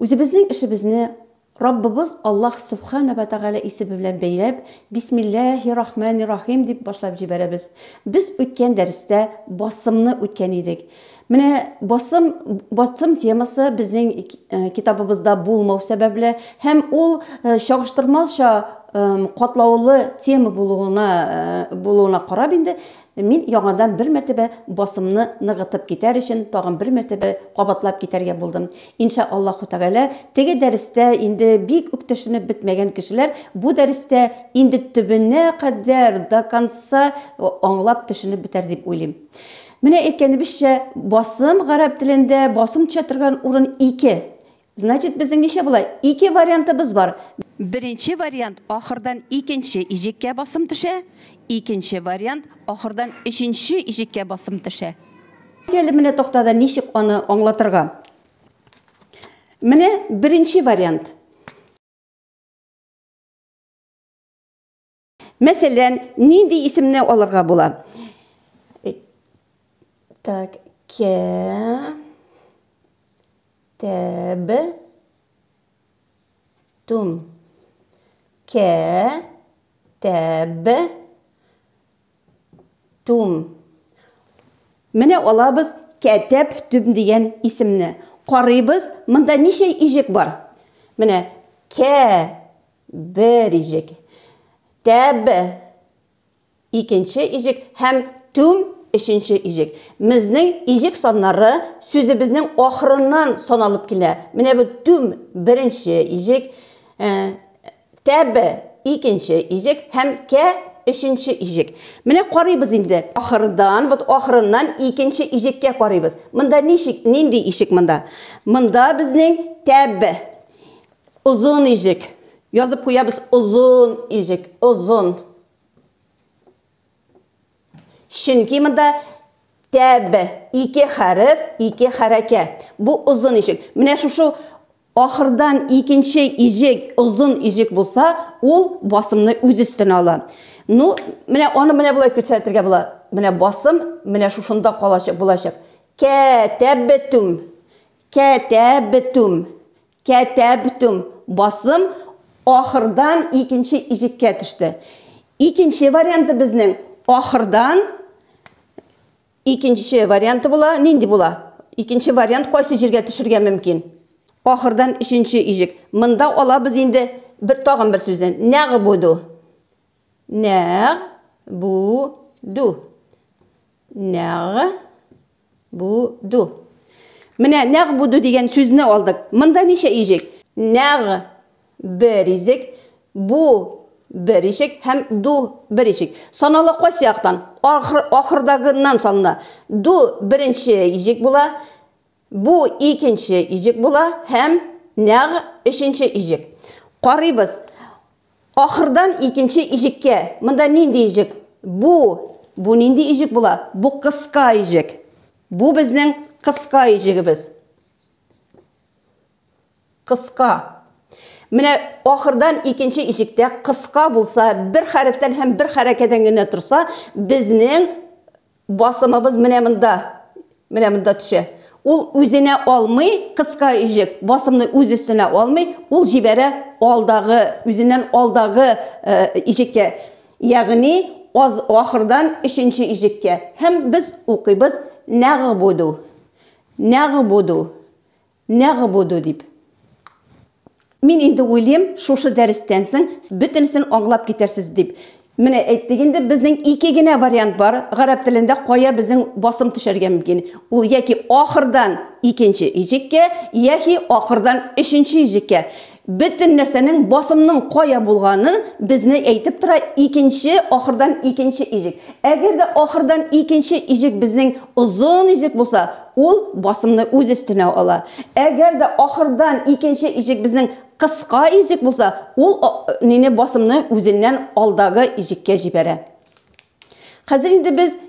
Үзебезнең эшебезне Раббыбыз Аллаһ Субхана ва Тәгалә исеме белән бәйләп, Бисмиллаһи рахмани рахим дип башлап җибәрәбез. Без үткән дәрестә басымны үткән идек. Менә басым, басым темасы безнең э, китабыбызда булмау сәбәпле һәм ул э, чагыштырмазча э, катлаулы тема булуына, булуына карап инде Мин яңадан бер мәртәбә басымны ныгытып китәр өчен тагын бер мәртәбә кабатлап китәргә булдым. Инша Аллаһу тәгалә, теге дәрестә инде бик үк төшенеп бетмәгән кешеләр бу дәрестә инде төбенә кадәр, до конца, аңлап төшенеп бетәр дип уйлыйм. Менә әйткәнебезчә, басым гарәп телендә басым төшә торган урын ике. Значит, безнең ничә була? Ике вариантыбыз бар. Беренче вариант, ахырдан икенче иҗеккә басым төшә. Икенче вариант, ахырдан өченче иҗеккә басым төшә. Әле менә тактада ничек аны аңлатырга? Менә беренче вариант. Мәсәлән, нинди исемне алырга була? Так, кә тәб тум. Кә тәб тум. Менә алабыз кәтәп түм дигән исемне. Карыйбыз, монда ничә ижек бар? Менә кә бер иҗек, тәб, икенче иҗек һәм түм, өченче иҗек. Мзнең иҗек саннары сүзебезнең ахырыннан саналып килә. Менә бу түм, беренче иҗек, э, тәб, икенче иҗек һәм кә, өченче иҗек. Менә карыйбыз инде. Ахырдан, вот ахырыннан икенче иҗеккә карыйбыз. Монда ничек, нинди ишек монда? Монда безнең тәб, Озын ижек. Язып куябыз озын ижек. Озын. Чөнки монда тәб, ике хәреф, ике хәрәкә. Бу озын ижек. Менә шушы ахырдан икенче ижек, озын ижек булса, ул басымны үз өстенә ала. Ну, менә аны менә болай күрсәтергә була. Менә басым, менә шушында калачак булачак. Кәтәбтүм. Кәтәбтүм. Кәтәбтүм, басым ахырдан икенче ижеккә төште. Икенче варианты безнең ахырдан икенче варианты була. Нинди була? Икенче вариант кайсы җиргә төшергә мөмкин? Ахырдан өченче ижек. Монда алабыз инде бер тагын бер сүзне. Нәг буду. Нәг буду. Нәг Буду. Менә нәг буду дигән сүзне алдык. Монда ничә ижек? Нәг бер изек, бу бер ишек һәм ду бер ишек. Санала кайсы яктан? Ахыр, ахырдагыннан санала. Ду беренче ишек була, бу икенче ишек була һәм нәг өченче ишек. Карыйбыз. Ахырдан икенче иҗеккә. Монда нинди иҗек? Бу. Бу нинди иҗек була? Бу кыска иҗек. Бу безнең кыска иҗегебез. Кыска. Менә ахырдан икенче иҗектә кыска булса, бер хәрефтән һәм бер хәрәкәдән генә торса, безнең Басымыбыз менә монда, менә монда төшә. Ул үзенә алмый, кыска өҗек, басымны үз өстенә алмый, ул җибәрә алдагы, үзеннән алдагы иҗеккә, ягъни аз ахырдан өченче иҗеккә. Һәм без укыйбыз нәгъбуду, нәгъбуду, Нәгъбуду дип. Мин инде уйлыйм, шушы дәрестән соң бөтенесен аңлап китәрсез дип. Менә әйттек инде, безнең ике генә вариант бар, гарәп телендә кая безнең басым төшәргә мөмкин. Ул яки ахырдан икенче иҗеккә, яхи ахырдан өченче иҗеккә. Бөтен нәрсәнең, басымның кая булганы безне әйтеп тора, икенче, ахырдан икенче иҗек. Әгәр дә ахырдан икенче иҗек безнең озын иҗек булса, ул басымны үз өстенә ала. Әгәр дә ахырдан икенче иҗек безнең кыска иҗек булса, ул нине, басымны үзеннән алдагы иҗеккә җибәрә. Хәзер инде без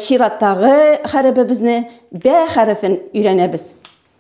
чираттагы хәребебезне, бә хәрефен өйрәнәбез.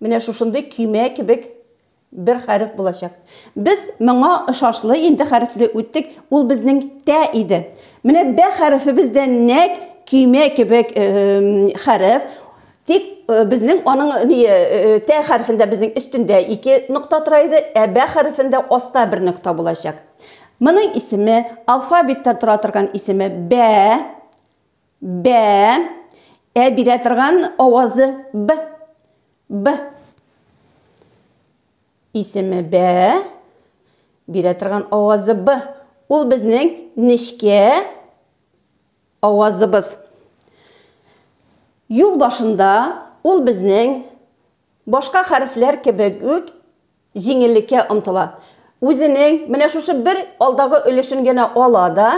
Менә шушындый көймә кебек бер хәреф булачак. Без моңа ышашлы инде хәрефле үттек, ул безнең тә иде. Менә бә хәрефебез дә нәк көймә кебек хәреф, тик безнең аның ни тә хәрефендә безнең өстендә ике нокта тора иде, ә бә хәрефендә аста бер нокта булачак. Моның исеме алфавиттан тора торган исеме бә Бә. Ә бирә торган авазы б. Б. Исеме бә. Бирә торган авазы б. Ул безнең нечкә авазыбыз. Юл башында ул безнең Башка хәрефләр кебек үк җиңеллеккә омтыла. Үзенең менә шушы бер алдагы өлешен генә ала да,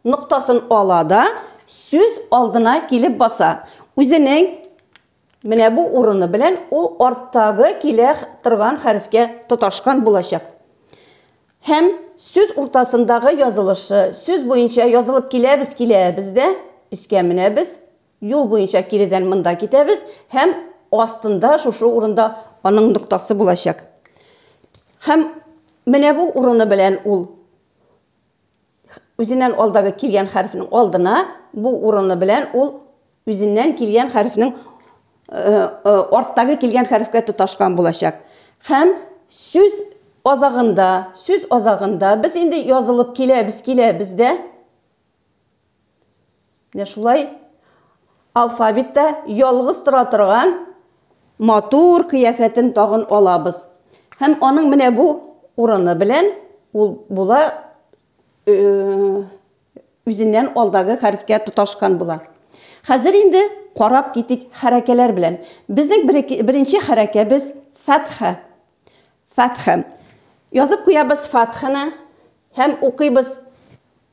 ноктасын ала да, сүз алдына килеп баса. Үзенең менә бу урыны белән ул арттагы килә торган хәрефкә тоташкан булачак. Һәм сүз уртасындагы язылышы, сүз буенча язылып киләбез, киләбез дә, өскә менәбез, Юл буенча киредән монда китәбез һәм астында шушы урында аның ноктасы булачак. Һәм менә бу урыны белән ул үзеннән алдагы килгән хәрефнең алдына, бу урыны белән ул үзеннән килгән хәрефнең арттагы килгән хәрефкә тоташкан булачак. Һәм сүз азагында, сүз азагында без инде язылып киләбез, киләбез дә. Менә шулай алфавитта ялгыз тора торган матур кыяфәтен тагын алабыз. Һәм аның менә бу урыны белән ул була э, үзеннән алдагы хәрефкә тоташкан була. Хәзер инде карап китик хәрәкәләр белән. Безнең беренче хәрәкәбез фәтха. Фәтха. Язып куябыз фәтханы һәм укыйбыз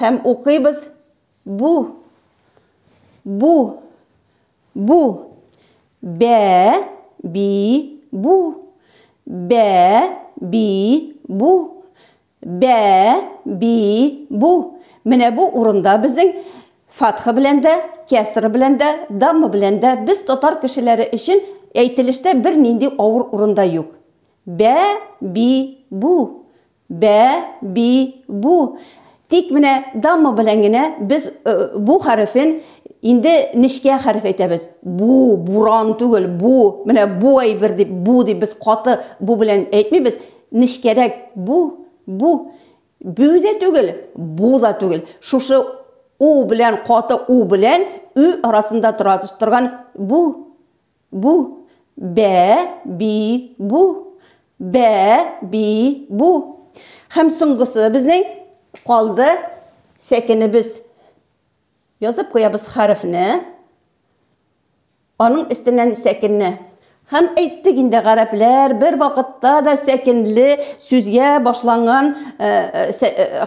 Һәм укыйбыз, Бу, бу, бу, бә, би, бу, бә, би, бу, бә, би, бу. Менә бу урында безнең фатха белән дә, кәсра белән дә, дамма белән дә без татар кешеләре өчен әйтелештә бернинди авыр урында юк. Бә, би, бу, Бә, би, бу. Тик менә дамма белән генә без бу хәрефен инде нечкә хәреф әйтәбез. Бу, буран түгел, бу. Менә бу әйбер дип, бу дип без каты бу белән әйтмибез. Нечкәрәк бу, бу. Бу дә түгел, бу да түгел. Шушы у белән, каты у белән ө арасында тора торган бу, Бу, бә, би, бу. Бә, би, бу. Һәм соңгысы безнең калды сәкенебез. Язып куябыз хәрефне, аның өстеннән сәкенне. Һәм әйттек инде гарәпләр бер вакытта да сәкенле сүзгә башланган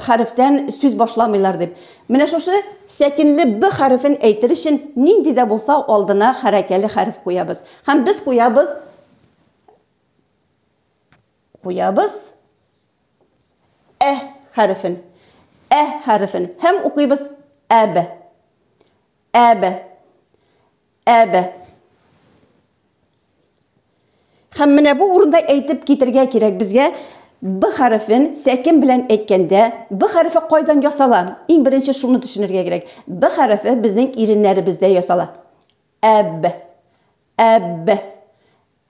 хәрефтән сүз башламыйлар дип. Менә шушы сәкенле Б хәрефен әйтер өчен нинди дә булса алдына хәрәкәле хәреф куябыз. Һәм без куябыз куябыз Ә хәрефен. Ә хәрефен. Һәм укыйбыз Әб. Әб. Әбе. Хәм менә бу урында әйтеп китергә кирәк безгә Б хәрефен сәкен белән әйткәндә, Б хәрефе кайдан ясала? Иң беренче шуны төшенергә кирәк. Б хәрефе безнең иреннәребездә ясала. Әб, әб,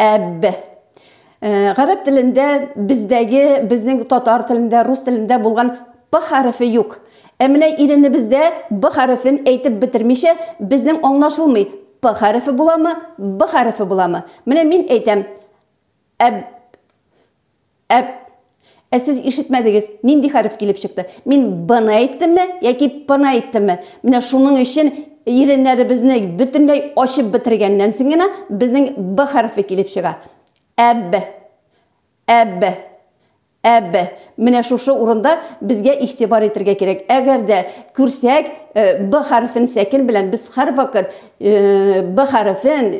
Әбб. Гарәп телендә бездәге, безнең татар телендә, рус телендә булган П хәрефе юк. Ә менә иренебездә Б хәрефен әйтеп бетермичә, безнең аңлашылмый, П хәрефе буламы, Б хәрефе буламы. Менә мин әйтәм, Әбб. Әп! Ә сез ишетмәдегез, нинди хәреф килеп чыкты? Мин Б-ны әйттемме яки П-ны әйттемме? Менә шуның өчен иреннәребезне бөтенләй ачып бетергәннән соң гына безнең Б хәрефе килеп чыга. Әб! Әб! Әб! Менә шушы урында безгә игътибар итергә кирәк. Әгәр дә күрсәк, Б хәрефен сәкен белән без һәрвакыт Б хәрефен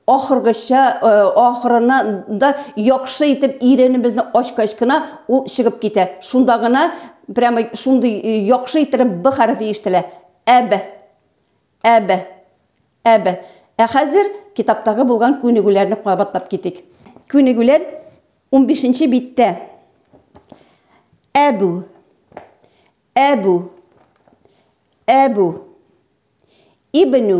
ахыргыча, ахырына да яхшы итеп иренебезне ачкач кына ул чыгып китә. Шунда гына прямо шундый яхшы иттереп б хәрефе ишетелә. Әб. Әб. Әб. Ә хәзер китаптагы булган күнегүләрне кабатлап китик. Күнегүләр унбишенче биттә. Әбү. Әбү. Әбү. Ибнү.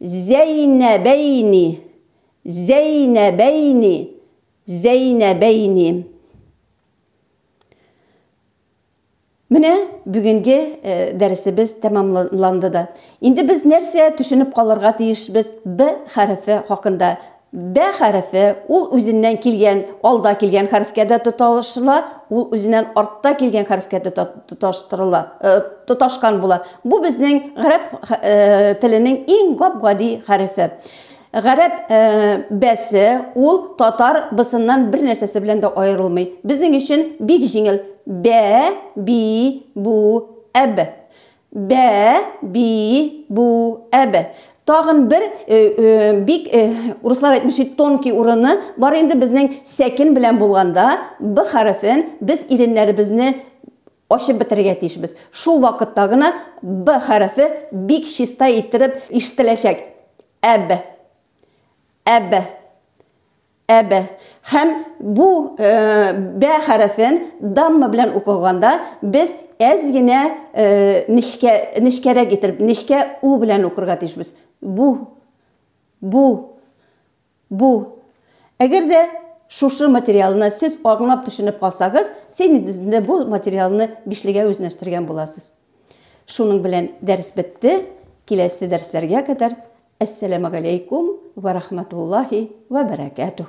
Зәйнәбәйни, Зәйнәбәйни, Зәйнәбәйни. Менә бүгенге дәресебез тәмамланды да. Инде без нәрсә төшенеп калырга тиешбез Б хәрефе хакында? Бә хәрефе, ул үзеннән килгән, алда килгән хәрефкә дә тоташыла, ул үзеннән артта килгән хәрефкә дә тоташтырыла, тоташкан була. Бу безнең гарәп теленең иң гап-гади хәрефе. Гарәп бәсе, ул татар бысыннан бер нәрсәсе белән дә аерылмый. Безнең өчен бик җиңел, бә, би, бу, әб. Бә, би, бу, әб. Тагын бер бик урыслар әйтмеши тонкий урыны бар инде безнең сәкен белән булганда б хәрефен без иреннәребезне ачып бетерергә тиешбез. Шул вакытта гына б хәрефе бик чиста иттереп ишетеләчәк. Әб. Әб. Әбә. Һәм бу бә хәрефен дамма белән укыганда без әз генә нечкә, нечкәрәк итеп, нечкә у белән укырга тиешбез. Бу. Бу. Бу. Әгәр дә шушы материалны сез аңлап төшенеп калсагыз, син инде бу материалны бишлегә үзнәштергән буласыз. Шуның белән дәрес бетте, киләсе дәресләргә кадәр Әссәләмәгаләйкүм вә рахмәтуллаһи вә бәрәкәтүһ.